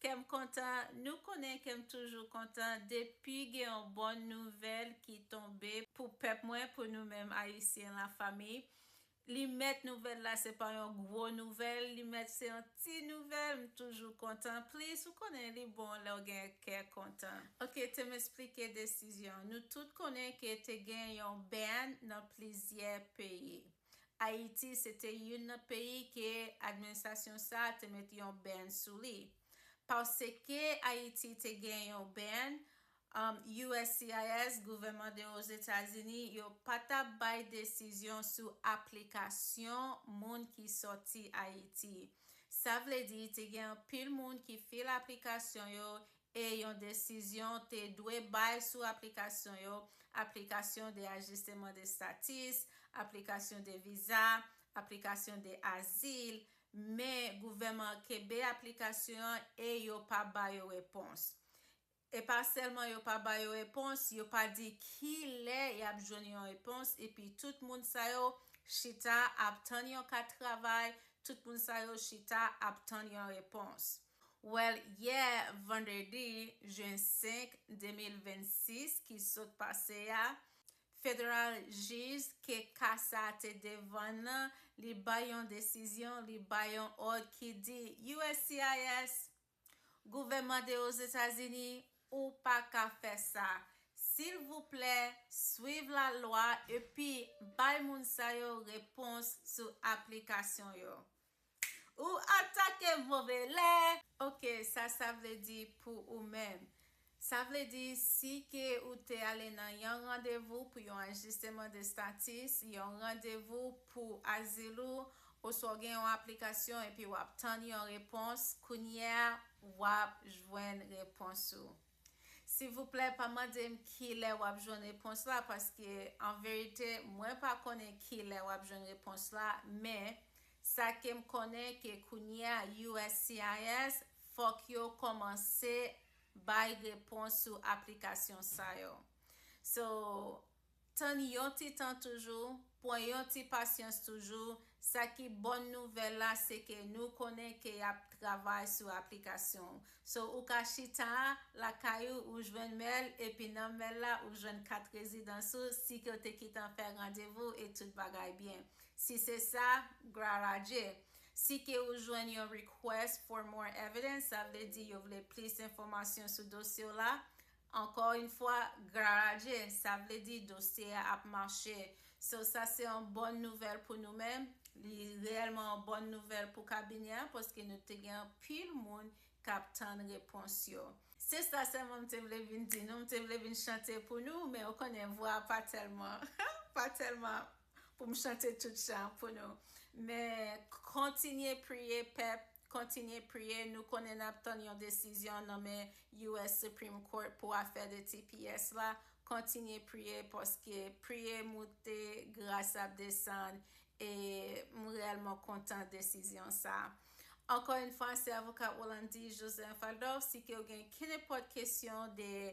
Kèm kontan, nou konnen kèm toujou kontan depi gen yon bon nouvèl ki tonbe pou pèp mwen, pou nou menm Ayisyen la fanmi. Li mèt nouvèl la se pa yon gwo nouvèl, li mèt se yon ti nouvèl, m toujou kontan plis, ou konnen li bon lèw gen kè kontan. Ok tem esplike desizyon, nou tout konnen ke te gen yon band nan plizyè peyi. Ayiti se te youn nan peyi ke administrasyon sa a te mete yon ban sou li. Paske Ayiti te gen yon ban, uscis, gouvènman de Ozetazini, yo pa t ap bay desizyon sou aplikasyon moun ki sòti Ayiti. Sa vle di te gen anpil moun ki file aplikasyon yo e yon desizyon te dwe bay sou aplikasyon yo, aplikasyon de ajisteman de status, aplikasyon de viza, aplikasyon de azil, men gouvèman an kenbe aplikasyon an e yo pa ba yo repons. E pa sèlman yo pa ba yo repons, yo pa di ki lè y ap jwenn yon repons epi tout moun sa yo chita ap tann yon kat travay, tout moun sa yo chita ap tann yon repons. Well yè vandredi jen 5, 2026 ki sot pase a, federal jij ke ka sa te devan nan li bay yon desizyon, li bay yon òd ki di uscis, gouvèman de Ozetazini, ou pa ka fè sa. Silvouplè swiv la lwa epi bay moun sa yo repons sou aplikasyon yo. Ou atake vovele. Ok sa sa vle di pou ou menm. Sa vle di si ke ou te ale nan yon randevou pou yon ajisteman de statis, yon randevou pou azil ou, oswa ou gen yon aplikasyon epi wap tann yon repons, kounyea wap jwenn repons ou. Silvouplè pa mandem kilè wap jwenn repons la paske an verite mwen pa konnen kilè wap jwenn repons la men sa kem konnen ke kounyea uscis fok yo komanse bay repons sou aplikasyon sa yo so Tann yon ti tan toujou, pwan yon ti pasyans toujou, sa ki bòn nouvèl la se ke nou konnen ke yap travay sou aplikasyon so ou ka chita lakay ou ou jwenn mèl epi nan mèl la ou jwenn kat rezidans ou si ke ou te kitan fè randevou e tout bagay byen si se sa glwar a Dye si ke ou jwenn yon request for more evidence sa vle di yo vle plis enfòmasyon sou dosye w la Ankò yn fwa gloire a Dye sa vle di dosye a ap mache so sa se yon bòn nouvèl pou nou men li reyèlman yon bòn nouvèl pou kabinè a paske nou te gen anpil moun kap tann repons yo. Se sa sèlman m te vle vin di nou, m te vle vin chante pou nou men ou konnen vwa a pa tèlman pa tèlman pou m chante tout chan pou nou men kontinye priye pèp Kontinye priye, nou konnen nap tann yon desizyon nan men US Supreme Court pou afè de tps la, kontinye priye paske priye moute gras ap desann e m reyèlman kontan desizyon sa. Ankò yn fwa se avoka Rolandi Joseph Adolphe si ke ou gen kenepòt kesyon de